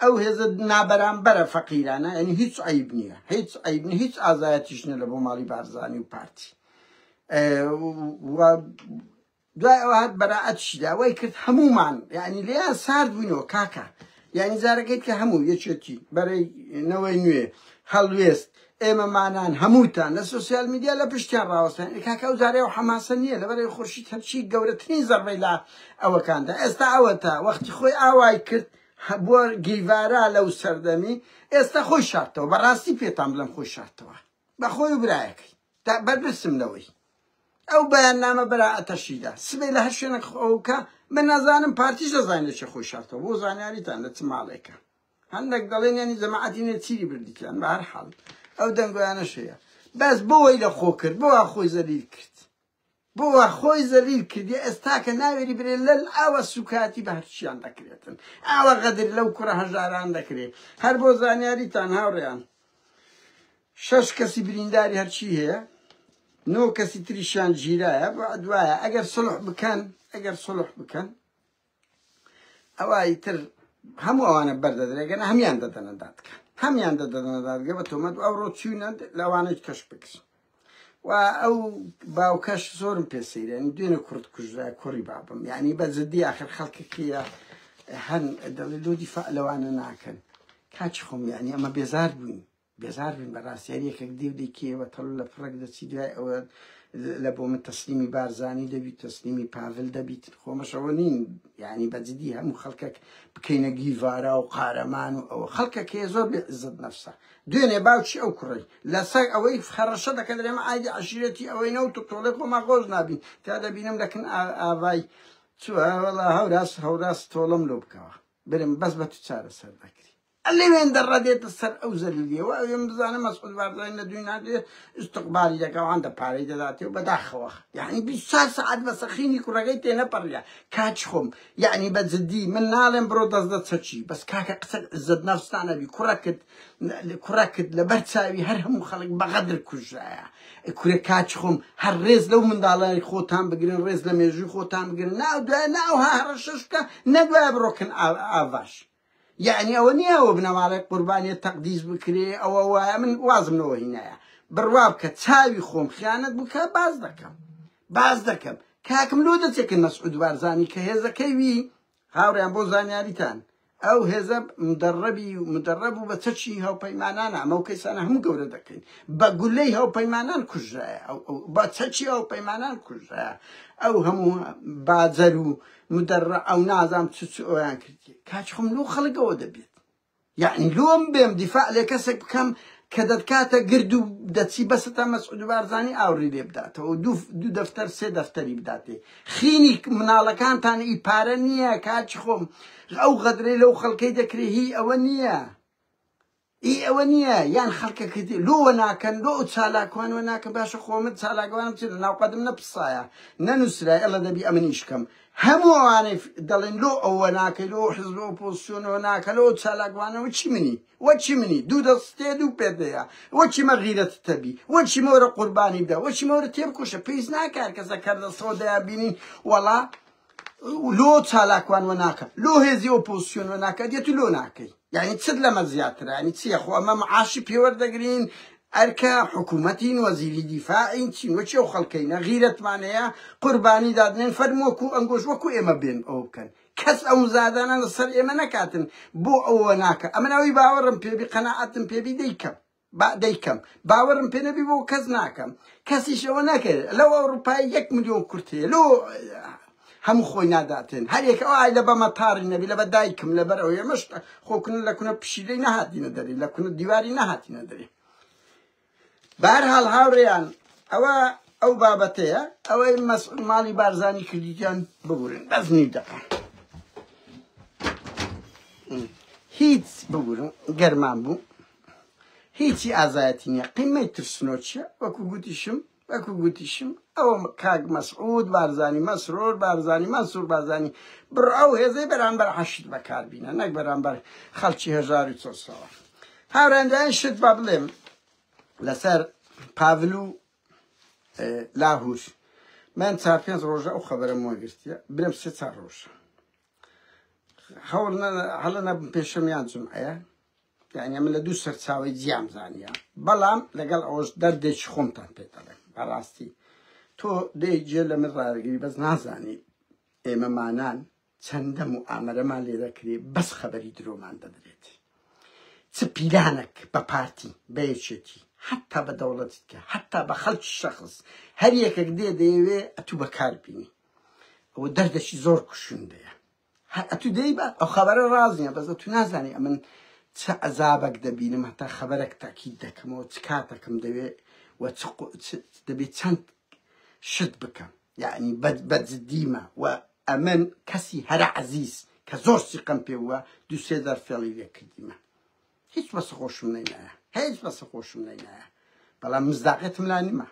ئەو هێزە نابەرامبەرە فەقیرانە ئەنی هیچ عیب نییە هیچ عیب هیچ ئازایەتیشنە لە بۆ ماڵی بارزانانی و پارتی دوای ئەوە هات بەرائەتیشی دا وای کرد هەموومان یعنی لێیان سارد بووینەوە کاکە یعنی جارەکەیت کە هەموو یەکێتی بەرەی نەوەی نوێ هەڵوێست ئێمەمانان هەمووتان لە سوسیال میدیا لە پشتیان ڕاوەستان کاکە ئەو جارەیە و حەماسە نییە لەبەرەی خورشید هەرچی گەورەترین زەربەی لا ئەوەکاندا ئێستا ئەوە تا وەختی خۆی ئاوای کرد بۆ گیڤارا لەو سەردەمی ئێستا خۆی شارتەوە بەڕاستی پێتان بڵێم خۆی شارتەوە بە خۆی و برایەکەی تا بەرپرسم لەوەی ئەو بەیاننامە بەرائەتەشی دا سبەی لە هەر شوێنێک خۆکە من نازانم پارتیش دەزانێت چە خۆی شارتەوە بۆ زانیاریتان لە چ ماڵێکە هەندێک دەڵێن یانی جەماعەتی نێچیری بردیان بە هەر حاڵ ئەو دەنگۆیانەشەیە بەس بۆی لە خۆ کرد بۆ خۆی زەلیل کرد بۆ وا خۆی زەلیل کردیە ئێستاکە ناوێری برێ لەل ئاوا سوکایەتی بە هەرچیان دەکرێتن ئاوا غەدر لەو کوڕە هەژاران دەکرێ هەر بۆ زانیاریتان هاوڕێیان شەش کەسی برینداری هەرچی هەیە نۆ کەسی تریشیان گیرایە بۆ عدوایە ئەگەر سڵح بکەن ئەگەر سڵح بکەن ئەوا ئیتر هەموو ئەوانە بەردەدرێ گەنە هەمیان دەدەنە دادگە هەمیان دەدەنە دادگە بە تۆمەت ئەو ڕۆ چوینە لەوانەی کەش بکرین و ئەو باوکەش زۆرم پێ سەیرێن دوێنە کورد کوژرا کوڕی بابم یعنی بە جددی آخر خەڵکی کێە هەن دەڵێ لۆدی فەعلەوانە ناکەن کاچ خۆم یعنی ئەمە بێزار بووین بێزار بن بەراستی هەر یەکەک دێ و دەیکێیەوە تەڵو لە پڕەک دەچی دوای ئەوە لە بۆ من تەسلیمی بارزانی دەبیت تەسلیمی پاڤل دەبیت خۆمەشەوە نین یعنی بە جدی هەموو خەڵکەک بکەینە گیڤارا و قارەمان و ئەوە خەڵکەک هەیە زۆر بێ عزت نەفسە دوێنێ باوچی ئەو کوڕی لەسەر ئەوەی خەڕەشە دەکەن درێمە ئایدی عەشیرەتی ئەوەی نەوت و تۆڵەی خۆمان خۆش نابین تا دەبینم دەکن ئاڤای چوە وەڵا هەوراس هەوراس تۆڵەم لۆ بکەوە برم بەس بە تو چارەسەر دەکری ئەلێوێن دەڕە دێتە سەر ئەو زەلیلیە وە ئەوێن بزانە مەسعود بارزانی لە دووی ناگرێ ئیستقبالی دەکا و هەندە پارەی دەداتێ و بەداخەوە یەعنی بیست چار سەعات بە سەخینی کوڕەکەی تێ نەپەڕیە کاچ خۆم یەعنی بە جدی من ناڵێم بڕۆ دەست دە چەکی بەس کاکە قسە عزەت نەفستان ئەبی کوڕەکت کوڕەکت لەبەر چاوی هەر هەموو خەڵک بەغەدر کوژرایە کورە کاچ خۆم هەر ڕێز لەو منداڵانی خۆتان بگرن ڕێز لە مێژووی خۆتان بگرن ناو دوای ناو هەڕەشەش بکە نەدوای بڕۆکن ئاڤاش یەعنی ئەوە نیە ئەوە بنەماڵەی قوربانیە تەقدیس بکرێ ئەوە وایە من وازم لەوە هینایە بڕوا بکە چاوی خۆم خیانەت بکە باز دەکەم باز دەکەم کاکم لۆ دەچێکن مەسعود بارزانی کە هێزەکەی وی هاوڕیان بۆ زانیاریتان ئەو هێزە مدەڕەبی مدەڕەب و بە چەکی هاوپەیمانان ئەمە و کەسانە هەموو گەورە دەکەین بە گولەی هاوپەیمانان کوژایە بە چەکی هاوپەیمانان کوژایە ئەو هەموو باجەر و مدەڕە ئەو نازام چ چ ئۆیان کردیە کاچ خۆم لۆ خەڵک ئەوە دەبێت یعنی لۆم بێم دیفاع لێ کەسێک بکەم کە دەتکاتە گرد و دەچی بەسە تا مەسعود بارزانی ئاوڕی لێ بداتەوە دوو دوو دەفتەر سێ دەفتەری بداتێ خینی مناڵەکانتان ئی پارە نییە کاچ خۆم ئەو غەدرەی لەو خەڵکەی دەکرێ هی ئەوە نییە ئی ئەوە نیە یان خەلکەکەتی لۆ وە ناکەن لۆ ئەو چالاکوان وە ناکەن باشە خۆ من چالاکوانم چ لە ناو قەدم نەپسایە نەنوسرای ئەلە دەبی ئەمنیش کەم هەموو ئەوانەی دەڵێن لۆ ئەو وە ناکەی لۆ حزب و پۆسیۆن وە ناکە لۆ چالاکوانە وە چی منی وە چی منی دوو دەستێ دوو پێت هەیە وە چیمە غیرەت تەبی وە چیمە وەرە قوربانی بدە وە چیمە وەرە تێبکۆشە پێویست ناکار کەسە کەردەسەوە دەیان بینین وەڵا لۆ چالاکوان وە ناکەن لۆ هێزی ئۆپۆزسیۆن وە ناکە دێت و لۆ ناکەی یعنی چت لەمە زیاترە یعنی چییە خۆ ئەمە معاشی پێوەردەگرین ئەرکە حکوومەتین وەزیری دیفاعین چین وەچی و خەڵکەینە غیرەتمان هەیە قوربانی دادنێن فەرموەکو ئەنگۆش وەکو ئێمە بێن ئەو بکەن کەس ئەو مزادانە لەسەر ئێمە نەکاتن بۆ ئەوە ناکە ئەمە ناوی باوەڕم پێبی قەنەعەتم پێبی دەیکەم با دەیکەم باوەرم پێ نەبی بۆ کەس ناکەم کەسیش ئەوە نەکرد لەو ئەوروپای یەک ملیۆن کورت هەیە لۆ هەموو خۆی ناداتێن هەر یەکە ئای لە بە مەتاری نەبی لە بە دایکم لەبەر ئەو ئێمەش خۆکن لە کونە پشیلەی نەهاتینە دەری لە کونە دیواری نەهاتینە دەری بار هاڵ هاوڕێیان ئەوە ئەو بابەتەیە ئەوەی مەسعود ماڵی بارزانی کردیان ببورن بەس نی دەقە هیچ ببورن گەرمان بوو هیچی ئازایەتی نیە قیمەی ترسنۆکیە وەکو گوتیشم وەکو گوتیشم ئەوە کاک مەسعود بارزانی مەسرور بارزانی مەنسور بارزانی بڕە ئەو هێزەی بەرامبەر حەشد بەکار بینە نەک بەرامبەر خەڵکی هەژار و چۆسەوە هاوران دوایین شت با بڵێم لەسەر پاڤل و لاهور من چار پێنج ڕۆژە ئەو خەبەرم وەگرتیە برم سێ چار ڕۆژە هەوڵ هەڵە نەبم پێشەمیان جمعەیە یانی ئەمە لە دوو سەرچاوەی جیام زانیە بەڵام لەگەڵ ئەوش دەردێکی خۆمتان پێ دەڵێم بەڕاستی تۆ دێ جێ لە من ڕارگری بەس نازانی ئێمەمانان چەندەم و ئامەرەمان لێ دەکرێ بەس خەبەری درۆمان دەدرێت چ پیلانەک بە پارتی بە یەکێتی حتا بە دەوڵەتی کە حتا بە خەڵکی شەخص هەر یەکەک دێ دەیەوێ ئەتوو بەکار بینی ئەوە دەردەکی زۆر کوشندەیە هەر ئەتو دەی بە ئەو خەبەرە ڕاز نیە بەس ئەتو نازانی ئەمن چ عەزابەک دەبینم هەتا خەبەرەک تاکید دەکەمەوە چ کاتەکەم دەوێ و دەبێت چەند شت بکەم یعنی بەجددیمە و ئەمن کەسی هەرە عزیز کە زۆر سیقم پێ وە دوسێ دەر فێڵی لێکردیمە هیچ بەسە خۆشم نەینایە هیچ بەسە خۆشم نەینایە بەڵام مزداقێتم لا نمە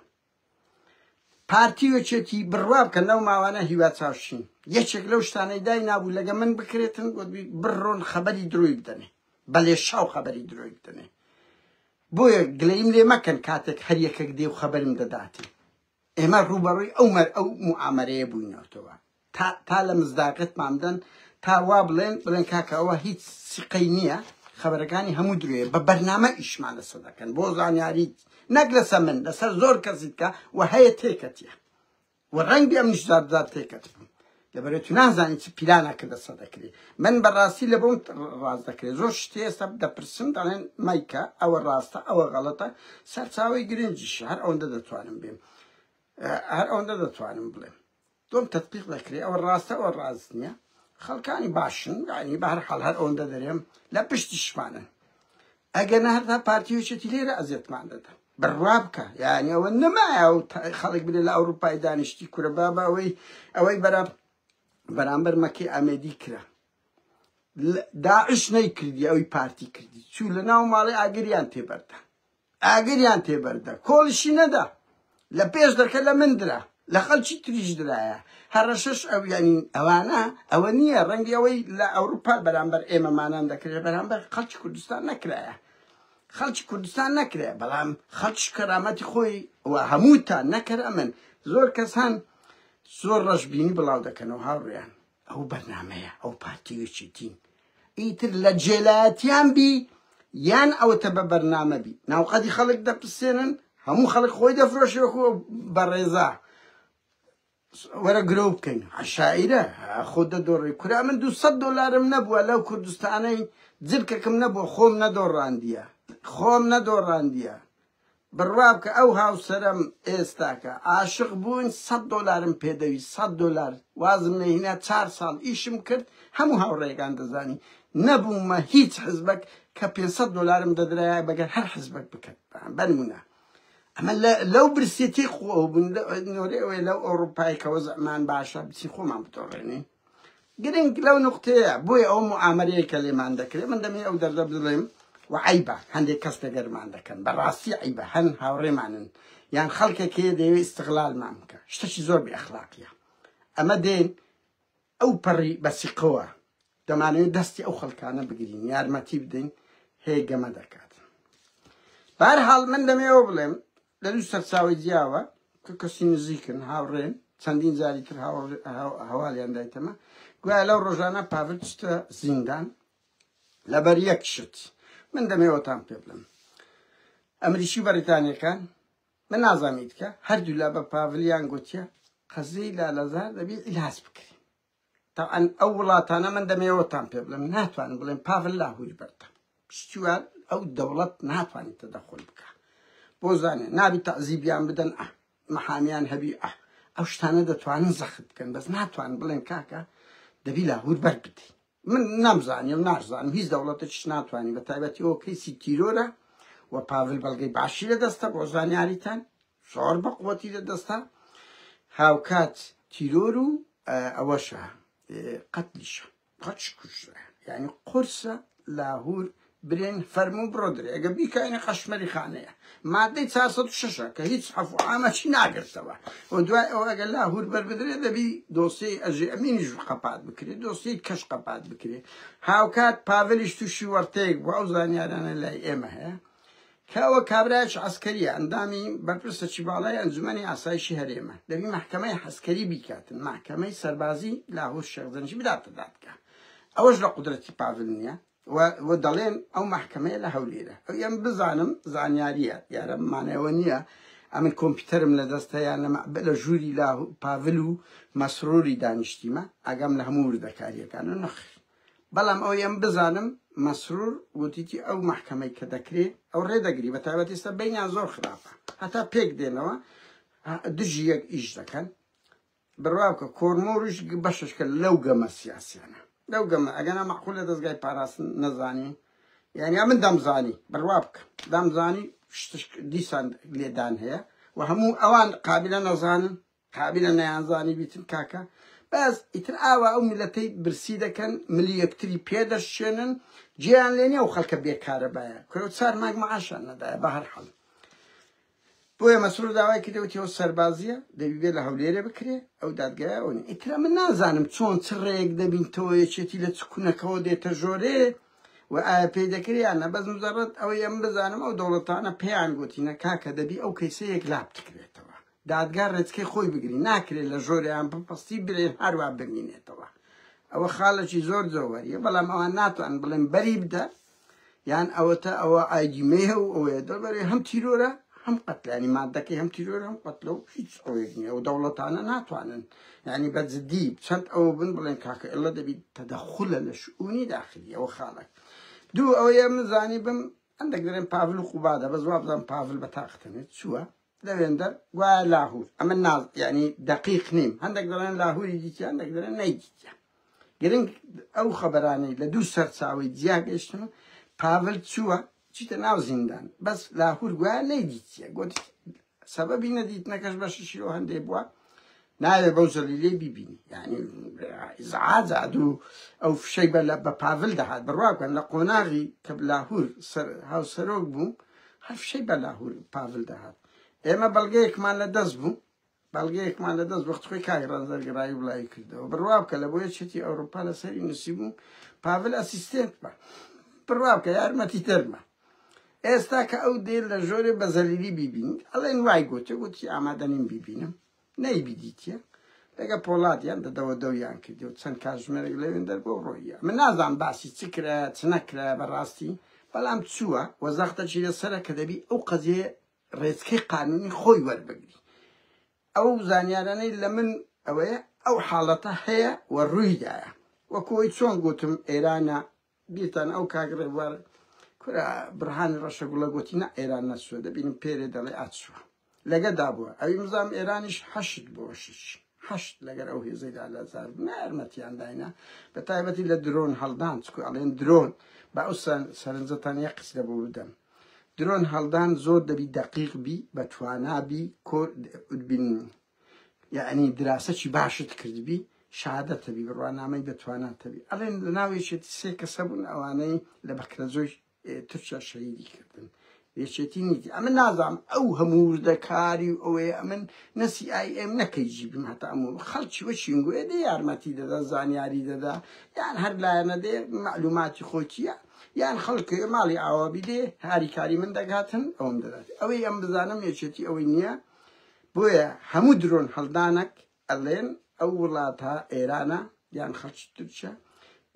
پارتی و یەکێتی بڕوا بکەن لەو ماوانە هیوا چاوشین یەکێک لەو شتانەی دای نابوو لەگە من بکرێتن گوتبی بڕۆن خەبەری درۆی بدەنێ بەلێ شاو خەبەری درۆی بدەنێ بۆیە گلەیم لێ مەکەن کاتێک هەر یەکێک دێ و خەبەرم دەداتن ئێمە ڕووبەڕووی ئەو مەر ئەو معامەرەیە بووینەوەتەوە تا تا لە مزداقتمان بدەن تا وا بڵێن بڵێن کاکە ئەوە هیچ سیقەی نییە خەبەرەکانی هەموو درێ بە بەرنامە ئیشمان لەسەر دەکەن بۆ زانیاریت نەک لەسەر من لەسەر زۆر کەسیت کە و هەیە تێکەتە و ڕەنگی ئەم نیشداددار تێکەت بم لەبەرێت و نازانی چ پیلانە کە دەسە دەکرێت من بەڕاستی لە بۆم ڕاست دەکرێت زۆر شتی ئێستا دەپرسم دەڵێن مایکە ئەوە ڕاستە ئەوە غەڵەتە سەرچاوی گرنجیش هەر ئەوەندە دەتوانم بێم هەر ئەوەندە دەتوانم بڵێم دووەم تەتبیق دەکرێ ئەوە ڕاستە ئەوە ڕاست نیە خەڵکانی باشن یانی بە هەر حاڵ هەر ئەوەندە دەرێم لە پشتیشمانن ئەگەر نە هەتا پارتی وچێتی لێرە ئەزێتمان دەدا بڕوا بکە یانی ئەوە نەمایە و خەڵک بێ لە ئەوروپای دانیشتی کورە بابا ئەوەی ئەوەی بەرە بەرامبەر مەکی ئامێدی کرا داعش نەیکردی ئەوی پارتی کردی چوو لە ناو ماڵی ئاگریان تێبەردان ئاگریان پێ بەردا، کۆڵیشی نەدا، لە پێش دەکە لە من درا، لە خەڵکی تریش درایە، هەڕەشەش ئەویانین، ئەوانە، ئەوە نییە، ڕەنگی ئەوەی لە ئەوروپا بەرامبەر ئێمەمانان دەکرێ، بەرامبەر خەڵکی کوردستان نەکرایە، خەڵکی کوردستان نەکرایە، بەڵام خەڵکیش کەرامەتی خۆی و هەمووتان نەکەرەمن، زۆر کەس هەن زۆر ڕەشبینی بڵاو دەکەنەوە هاوڕێیان. ئەو بەرنامەیە ئەو پارتی و یەکێتین ئیتر لە جێلایەتیان بی یان ئەوەتە بە بەرنامە بی ناوقەدی خەڵک دەپسێنن هەموو خەڵک خۆی دەفرۆشی وەکو بەڕێزا وەرە گرۆ بکەین عشاعرە خۆ دەدۆڕی کورا من دو سەد دۆلارم نەبووە لەو کوردستانەی جلکەکم نەبووە خۆم نەدۆڕاندیە خۆم نەدۆڕاندیە بڕوابکە ئەو هاوسەرەم ئێستا کە عاشق بووین سەد دۆلارم پێدەویست سەد دۆلار وازم لێهینا چار ساڵ ئیشم کرد هەموو هاوڕێیەکان دەزانی نەبوومە هیچ حزبەک کە پێنج سەد دۆلارم دەدرایە بەگەر هەر حزبەک بکەن بەنمونە ئەمە لەو برسێتی خۆ بوون نۆرێ ئەوێ لەو ئەوروپای کە وەزعمان باشە بچی خۆمان بتۆڕێنین گرنگ لەو نوقتەیە بۆیە ئەو موعامەرەیە کە لێمان دەکرێ من دەمێ ئەو دەردە بڵێم و عیبە هەندێک کەس تەگەرمان دەکەن بەڕاستی عیبە هەن هاوڕێمانن یان خەڵکێک هەیە دەیەوێ ئیستغلالمان بکە شتەکی زۆر بێ ئەخلاقیە ئەمە دێن ئەو پەڕی بەسیقەوە دەمانەوێت دەستی ئەو خەڵکانە بگرین یارمەتی بدەین هەیە گەمە دەکات بارحاڵ من دەمێەوە بڵێم لە دوو سەرچاوەی جیاوە کە کەسی نزیکن، هاوڕێن، چەندین جاری تر هەواڵیان دایتەمە، گوایە لەو ڕۆژانە پاڤل چووتە زیندان لەبەر یەک شت، من دەمێوەتان پێ بڵێم. ئەمریکی و بەڕیتانییەکان، من نازانم ئیتکە، هەردوولا بە پاڤلیان گوتیە قەزیەی لالەزار دەبێ ئیلاج بکرێ. تەبعەن ئەو وڵاتانە من دەمەوێتان پێ بڵێم ناتوانن بڵێن پاڤل لاهوری بەردە پشتیوان ئەو دەوڵەت ناتوانێت تەدەخل بکە بۆ زانێ نابی تەعزیبیان بدەن ئە محامیان هەبی ئە ئەو شتانە دەتوانن زەخت بکەن بەس ناتوان بڵێن کاکە دەبی لاهور بەر بدەین من نامزانانی و نارزانم هیچ دەوڵەتش ناتوانانی بە تایبەتی ئەو کەیسی تیرۆرە و پاڤل بەڵگەی باشی لە دەستە بۆ زانیاریتان زۆر بە قوتی لە دەستە هاوکات تیرۆر و ئەوەشە قەتلیشە قەچ کوژرا یعنی قورسە لاهور برێن فەرموو بڕۆ درێ ئەگە بیکەینە قەشمەری خانەیە مادەی 406 کە هیچ عفو ئامەچی ناگرتەوە و دوای ئەو ئەگە لاهور بەربدرێ دەبی دۆسیی ئەژێ ئەمینیش قەپات بکرێت دۆسیی کەش قەپات بکرێت هاوکات پاڤلیش تووشی وەرتەیەک بوو ئەو زانیارانە لای ئێمە هەیە کاوە کابرایەکی عەسکەریە ئەندامی بەرپرسەکی باڵای ئەنجومەنی ئاسایشی هەرێمە دەبی مەحکەمەی حەسکەری بیکاتن مەحکەمەی سەربازی لاهور شێخ زەنگی بداتە دادگا ئەوەش لە قودرەتی پاڤل نیە و و دەڵێن ئەو مەحکەمەیە لە هەولێرە ئەو یەم بزانم زانیاریە دیارە مانەوە نیە ئەمن کۆمپیوتەرم لە دەستە یان لە مەعبە لە ژووری لاهور پاڤل و مەسروری دانیشتیمە ئاگام لە هەموو وردەکاریەکانە نەخیر بەڵام ئەوەی ئەم بزانم مەسرور گوتیتی ئەو مەحکەمەی کە دەکرێ ئەو ڕێ دەگری بە تایبەت ئێستا بەینیان زۆر خراپە هەتا پێک دێنەوە دژی یەک ئیش دەکەن بڕواکە کۆرمۆریش بەشش کە لەو گەمە سیاسیانە لەو گەمە ئەگەنا مەعقول لە دەستگای پاراستن نەزانی یعنی من دەمزانی بڕوا بکە دەمزانی دیسان لێدان هەیە و هەموو ئەوان قابلە نەزانن قابیلە نەیانزانی بیتن کاکە بەس ئیتر ئاوا ئەو میلەتەی برسی دەکەن ملی یەکتری پێدەشێنن جێیان لێ نیە و خەڵکە بێکارە باە کورە و چار ماگ معاشان نەدایە بە هەر حەڵ بۆیە مەسرور داوای کردەوەتی ئەو سەربازیە دەبیبێ لە هەولێرە بکرێ ئەو دادگایە ئەو نیە ئیترە من نازانم چۆن چ ڕێک دەبینتەوە یەکێتی لە چ کونەکەەوە دێتە ژۆرێ و ئایا پێی دەکرێ یان نە بەس مزەڕەت ئەوەی ئەم بزانم ئەو دەوڵەتانە پێیان گوتینە کاکە دەبی ئەو کەیسە یەکلا بتکرێتەوە دادگا رێچکەی خۆی بگری ناکرێت لە ژۆرەیان بپەستی برێن هەروا بمینێتەوە ئەوە خالەکی زۆر جۆوەریە بەڵام ئەوان ناتوان بڵێن بەری بدە یان ئەوەتە ئەوە ئایدی مێه و ئەوەیە دەڵبەرێ هەم تیرۆرە هەم قەتلانی مادەکەی هەم تیرۆر هەم قەتلە و هیچ ئەوەیەک نیە و دەوڵەتانە ناتوانن یعنی بە جدی چەند ئەوە بن بڵێن کاکە ئێڵە دەبیت تەدەخولە لە شعونی داخلی ئەوە خاڵک دوو ئەوەیە مزانی بم ئەندەک دەێن پاڤل و قوبادە بە زواب بزان پاڤل بە تاقتنێت چووە لەوێندەر گوایە لاهور ئەمە ناز یعنی دقیق نیم هەندێک دەڵێن لاهوری دیتی هەندێک دەڵێن نەیدیتە گرنگ ئەو خەبەرانەی لە دوو سەرچاوی جیا گەشتن و پاڤل چووە چیتە ناو زیندان بەس لاهور گوایە نەیدیتە گوت سەبەبی نەدیتنەکەش بەششیەوە هەندێک بووە ناوێ بەو زەلیلەی بیبینی یعنی ئیزعاجە دوو ئەو فشەی بە لە بە پاڤل دەهات بڕوا بکەن لە قۆناغی کە لاهور سەر هاوسەرۆک بوو هەر فشەی بە لاهور پاڤل دەهات ئێمە بەڵگەیەکمان لە دەست بوو بەڵگەیەکمان لە دەست وەخت خۆی کاک ڕەنزەرگەڕایی وڵایی کردەوە بڕوا بکە لە بۆیە چێتی ئەوروپا لەسەری نووسی بوو پاڤل ئەسیستێنت بە بڕوا بکە یارمەتی دەرمە ئێستا کە ئەو دێ لە ژۆرێ بە زەلیلی بیبینیت ئەڵێن وای گوتێ گوتی ئامادە نیم بیبینم نەیبیدیتە لەگە پۆڵاتیان دەدەوە دەویان کردی و چەند کاتژمێرێک لەوێن دەربۆ ڕۆیە من نازان باسی چ کرا چ نەکرا بەڕاستی بەڵام چووە وە زەختە چی لەسرە کە دەبی ئەو قەزیێ ڕێچکەی قانونی خۆی وەربگری ئەو زانیارانەی لە من ئەوەیە ئەو حاڵەتە هەیە و ڕوویدایە وەکۆی چۆن گوتم ئێرانە بیرتانە ئەو کاک ڕێبوار کورە بڕهانی ڕەشە گوڵە گۆتی نە ئێران نەچووە دەبینم پێرێ دەڵێ ئەچووە لەگە دابووە ئەوی مزام ئێرانیش حەشت بۆ شش حەشت لەگەر ئەو هێزەی دا لە زار بوو نارمەتیان داینا بە تایبەتی لە درۆن هەڵدان چکو ئەڵێن درۆن با ئەو سەرنجەتان یە قس لە بۆ بدەم درۆن هەڵدان زۆر دەبی دەقیق بی بە توانابی کۆ بین یعنی دراسەکی باشت کردبی شادەتەبی بڕوانامەی بەتواناتەبی ئەڵێن لە ناو یەکێتی سێ کەسە بوون ئەوانەی لە بەکرەجۆی تورکیا شەهیدی کردن یەکێتی نیتی ئەمە نازام ئەو هەموو وردەکاری و ئەوەیە ئەمن نەسی ئای ئێم نەکەی جیبم هەتا ئەموو خەڵکی وەچینگوێ دێ یارمەتی دەدا زانیاری دەدا یان هەر لایەنە دێ معلوماتی خۆکیە یان خەڵکێ ماڵی ئاوابی دێ هاریکاری من دەگاتن ئەوم دەدات ئەوەی ئەم بزانم یەکێتی ئەوەی نییە بۆیە هەموو درۆن هەڵدانەک ئەلێن ئەو وڵاتە ئێرانە یان خەڵکی تورکیا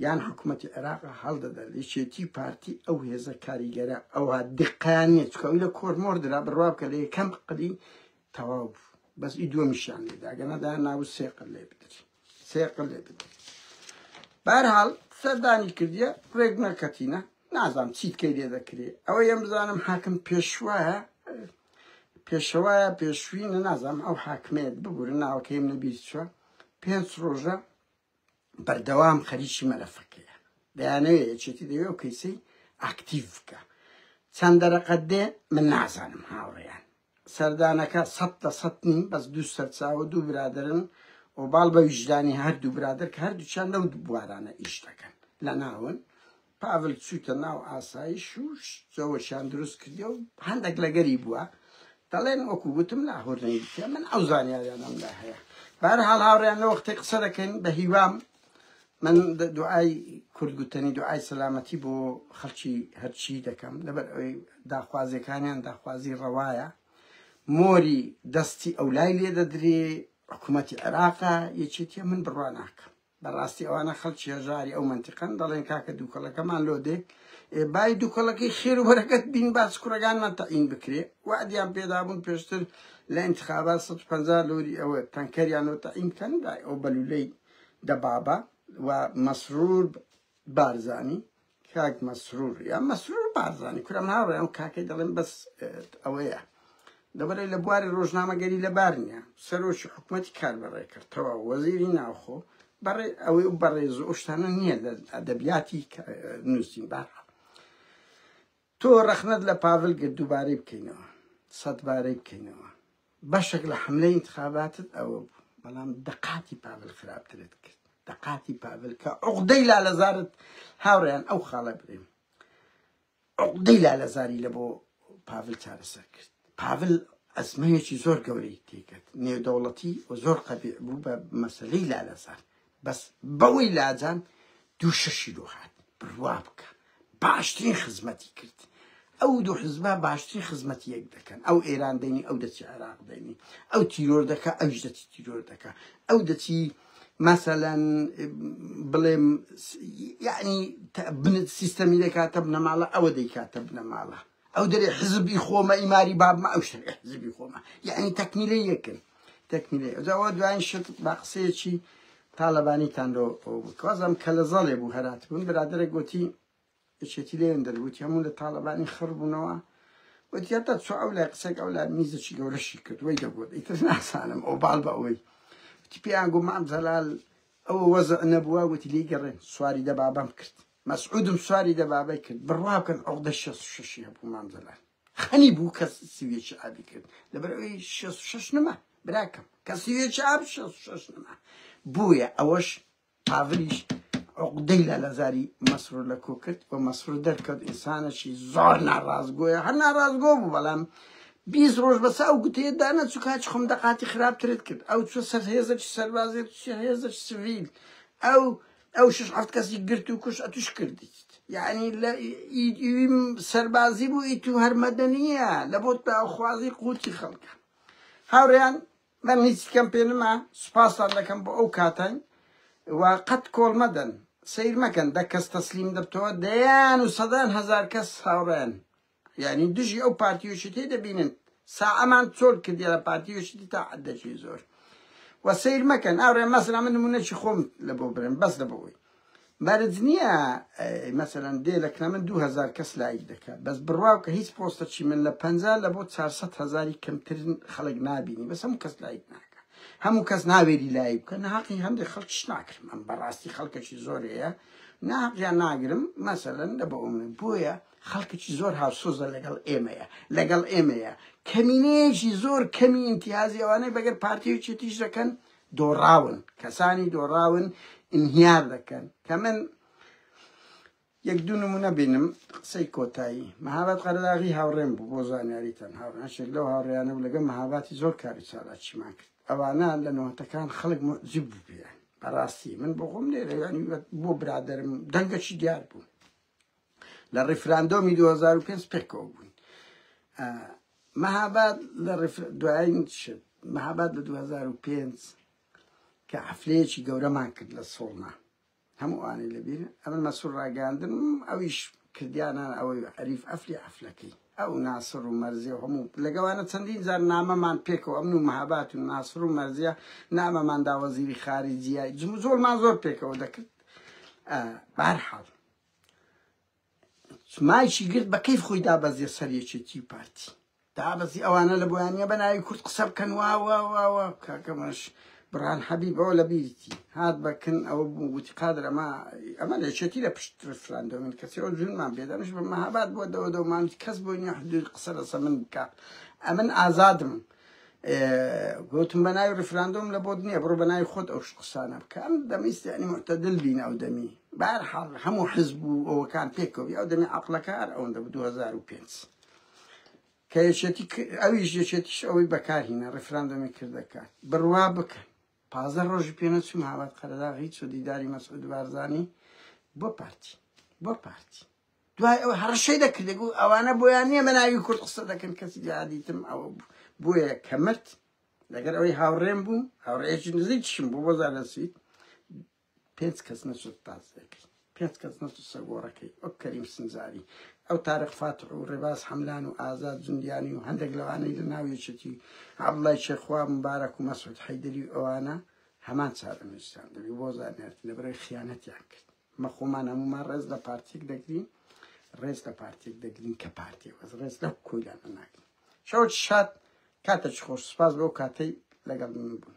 یان حکومەتی عێراقە هەڵدەدەن یەکێتی پارتی ئەو هێزە کاریگەرە ئەوە دقیان نیە چکە لە کۆرمۆر درا بڕوا بکە لە یەکەم قلی تەواو بوو بەس ئی دووەمیشیان لێداگەنەدا ناو سێقل لێ بدرین سێقل لێ بدەم بارحاڵ سەردانی کردیە ڕێک نەکەتینە نازانم چیت کەی لێ دەکرێ ئەوە یەم بزانم حاکم پێشوایە پێشەوایە پێشوینە نازانم ئەو حاکمێت ببورە ناوەکەیم نەبیر چوە پێنج ڕۆژە بەردەوام خەریکی مەلەفەکەیە دەیانەوێ یەکێتی دەوێ و کەیسی ئاکتیڤ بکە چەند دەرەقەت دێ من نازانم هاوڕێیان سەردانەکە سەد لە سەد نین بەس دوو سەرچاوە دوو برادەرن و باڵ بە ویژدانی هەردوو برادەر کە هەردووچان لەو بوارانە ئیش دەکەن لە ناون پاڤل چووتە ناو ئاسایش و جەوەشیان دروست کردی و هەندێک لەگەری بووە دەڵێن وەکو وتم لاهور نەیتە من ئەو زانیاریانم لە هەیە بارحاڵ هاوڕیان لە وەختی قسە دەکەین بە هیوام من دوعای کورد گوتنی دوعای سەلامەتی بۆ خەڵکی هەرچی دەکەم لەبەر ئەوی داخوازیەکانیان داخوازی ڕەوایە مۆری دەستی ئەو لای لێ دەدرێ حکوومەتی عێراقا یەکێتیە من بڕوا ناکەم بەڕاستی ئەوانە خەڵکی هەژاری ئەو منتیقن دەڵێن کاکە دووکەڵەکەمان لۆ دێ بای دووکەڵەکەی خێر و بەرەکەت بین باس کوڕەکانمان تەعین بکرێ وادیان پێدابوون پێشتر لە انتخابات 150 لۆری ئەوە تەنکەریان لۆ تەعین بکەن دای ئەو بەلولەی دەبابە و مەسرور بارزانی کاک مەسرور یا مەسرور بارزانی کورم هاوڕێ ئەم کاکەی دەڵێن بەس ئەوەیە دەبەرە لە بواری ڕۆژنامەگەری لەبار نییە سەرۆکی حکوومەتی کار بەڕێ کردەوە وەزیری ناوخۆ بەڕێ ئەوەی بەڕێز ئەوشتانە نییە لە ئەدەبیاتی نووسین بارها تۆ رەخنەت لە پاڤل گرت دووبارەی بکەینەوە سەد بارەی بکەینەوە بەشەک لە حەملەی ئینتخاباتت ئەوە بوو بەڵام دەقاتی پاڤل خراپترت کرد دەقاتی پاڤل کە عقدەی لالەزارت هاوڕێیان ئەو خاڵە برێم عقدەی لالەزاری لە بۆ پاڤل چارەسەر کرد پاڤل ئەزمەیەکی زۆر گەورەی تێکرد نێودەوڵەتی و زۆر قەبیع بوو بە مەسلەی لالەزار بەس بەوەی لاجان دوو شەشی لۆ هات بڕوا بکە باشترین خزمەتی کرد ئەو دوو حزبە باشترین خزمەتی یەک دەکەن ئەو ئێران دەینی ئەو دەچی عێراق دەینی ئەو تیرۆر دەکە ئەوش دەچی تیرۆر دەکە ئەو دەچی مثلا بڵێم یعنی بنت سیستەمی دەکاتە بنەماڵە ئەوە دەیکاتە بنەماڵە ئەو دەرێ حزبی خۆمە ئیماری بابمە ئەو شتێ حزبی خۆمە یعنی تەکمیلە یەکن تەکمیلەی ئەوجا وە دوایین شت با قسەیەکی تاالەبانیتان لۆ وازم کە لە زەڵێ بوو هەرات بوون برادرە گوتی یەکێتی لێن دەرگوتی هەموو لە تاالەبانی خڕ بوونەوە وتیتا چۆ ئەو لای قسەێک ئەو لای میزەکی گەورەشی کرد وی دەگوت ئیتر ناسانم ئەو باڵ بە ئەوەی وتی پێیان گو مام زەلال ئەو وەزع نەبووە وتی لی گەڕێن سواری دەبابەم کرد مەسعودم سواری دەبابەی کرد بڕوا بکەن عقدە شەست و شەشی هەبوو مام زەلال خەنی بوو کە سویێکی ئابی کرد لەبەر ئەوی شێست و شەش نما براکەم کە سویێکی ئاب شێست و شەش نما بووە ئەوەش پاڤلیش عقدەی لە لەزاری مەسرور لە کۆ کرد و مەسرور دەرکەوت ئینسانەشی زۆر ناڕازگۆیە هەر ناڕازگۆ بوو بەڵام بیست ڕۆژ بەسە ئەو گوتەیە دانە چوو کاچ خۆم دەقاتی خراپترت کرد ئەو چوە سەر هێزەکی سەربازێت هێزەش سڤیل ئەو ئەو شش حەفت کەسی گرت و کوش ئەتوش کردیت یعنی لە ئیدیم سەربازی بوو ئیت و هەرمەدەنیە لە بۆت باوخوازی قوتی خەڵکە هاوڕیان من هیچ کەم پێ نما سوپاستان دەکەم بۆ ئەو کاتان و قەت کۆڵ مەدەن سیر مەکەن دە کەس تەسلیم دەبتەوە دەیان و سەدان هەزار کەس هاوڕیان یانی دژی ئەو پارتی یەکێتی دەبینن ساعەمان چۆل کردی لە پارتی یەکێتی تا عەدەکی زۆر و سیر مەکەن ئەوڕێ مەسەلا من نمونەکی خۆم لە بۆ برن بەس لە بۆی مەرج نییە مەسەرەن دێ لە کنە من 2000 کەس لایک دەکات بەس بڕواو کە هیچ پۆستەکی من لە پ لە بۆ 400 هزاری کەمتر خەڵک نبینی بەس هەموو کەس لایک ناکە هەموو کەس ناوێری لایک بکە ناقی هەندێک خەڵکیش ناکرم ئەم بەڕاستی خەڵکەکی زۆرەیە ناقیان ناگرم مەسەرەن لە بۆ من بۆیە خەڵکەکی زۆر هاوسۆزە لەگەڵ ئێمەیە لەگەڵ ئێمەیە کەمینەیەکی زۆر کەمی ئینتیازی ئەوانەی بەگەر پارتی و چێتیش دەکەن دۆڕاون کەسانی دۆڕاون ئینهیار دەکەن کە من یەک دوو نمونە بینم قسەی کۆتایی مەهابات قەرەداغی هاوڕێم بوو بۆ زانیاریتان هاوڕێنشێک لەو هاوڕێیانە بوو لەگە مەهاباتی زۆر کاری چالاکیمان کرد ئەوانە لە نەوەتەکان خەڵک مجیب بوو پێیان بەڕاستی من بۆ خۆم لێرەیانی بۆ برادرم دەنگەکی دیار بوو لە ڕیفراندۆمی 2005 پێکەوە بووین مەهاباد لە دوایین شت مەهاباد لە 2005 کە حفلەیەکی گەورەمان کرد لە سۆڵنا هەموو ئانی لەبییر ئەمن مەسوور ڕاگەاندن ئەویش کردیانە ئەوەی عریف ئەفلی ئەفلەکەی ئەو ناسر و مەرزیە و هەموو لەگەوانە چەندین جار نامەمان پێکەوە ئەمن و مەهابات و ناسر و مەرزیە نامەمان داوەزیری خاری جیای جموزۆڵمان زۆر پێکەوە دەکرد بەهەرحاڵ مایکی گرت بە کەیف خۆی دابەزیە سەر یەکێتی و پارتی دابەزی ئەوانە لە بۆیان نیە بە ناوی کورد قسە بکەن واواواوە کاکەمەش بران حەبی بەوە لە بیرتی هات بەکن ئەوە بوو وتی قادر ئەمە ئەمە لە یەکێتی لە پشت ریفراندۆمین کەسی ئەو جونمان بێدەنش بە مەهاباد بۆ دەوە دەومان کەس بۆی نیە حدود قسە لەسە من بکە ئەمن ئازادم گوتم بە ناوی ڕفراندۆم لە بۆت نییە بڕۆ بە ناوی خۆت ئەو قسانە بکە ئەم دەمیستی ئەنی معتەدل بین ئەو دەمی بارحاڵ هەموو حزب و ئەوەکان پێکەوە ئەو دەمی عقلەکار ئەوەندە بە 2005 کە یەکێتی ئەویش یەکێتیش ئەوەی بەکارهینە ڕفراندۆمی کردەکان بڕوا بکەن پازە ڕۆژی پێنە چوم هاوات قەرەداغی چۆ دیداری مەسعود بارزانانی بۆ پارتی بۆ پارتی دوای ئەو هەڕەشەی دەکرد دەگوت ئەوانە بۆیان نییە بە ناوی کورد قسە دەکەن کەسی جادیتم ئەوە بۆیە کە مرد لەگەر ئەوەی هاوڕێم بوو هاوڕێکی نزیکشم بۆ بۆ زانەسی پێنج کەس نەچێت تاس دەکەی پێنج کەس نەچ سەگۆڕەکەی ئەو کەریم سنجاری ئەو تارق فاتح و ڕێباز حەملان و ئازاد جندیانی و هەندێک لەوانەی لە ناویچێتی عبڵای شێخوا مبارەک و مەسعود حەیدری ئەوانە هەمان چارەنووسیان دەبی بۆ زانێت لەبەرەوەی خیانەتیان کرد ئەمە خۆمان هەموومان ڕێز لە پارتیک دەگرین ڕێز لە پارتیک دەگرین کە پارتی وەز ڕێز لە کۆیلانە ناگرین شەوت شاد کاتە چ خۆش سپاس بۆ کاتەی لەگەڵ من بوون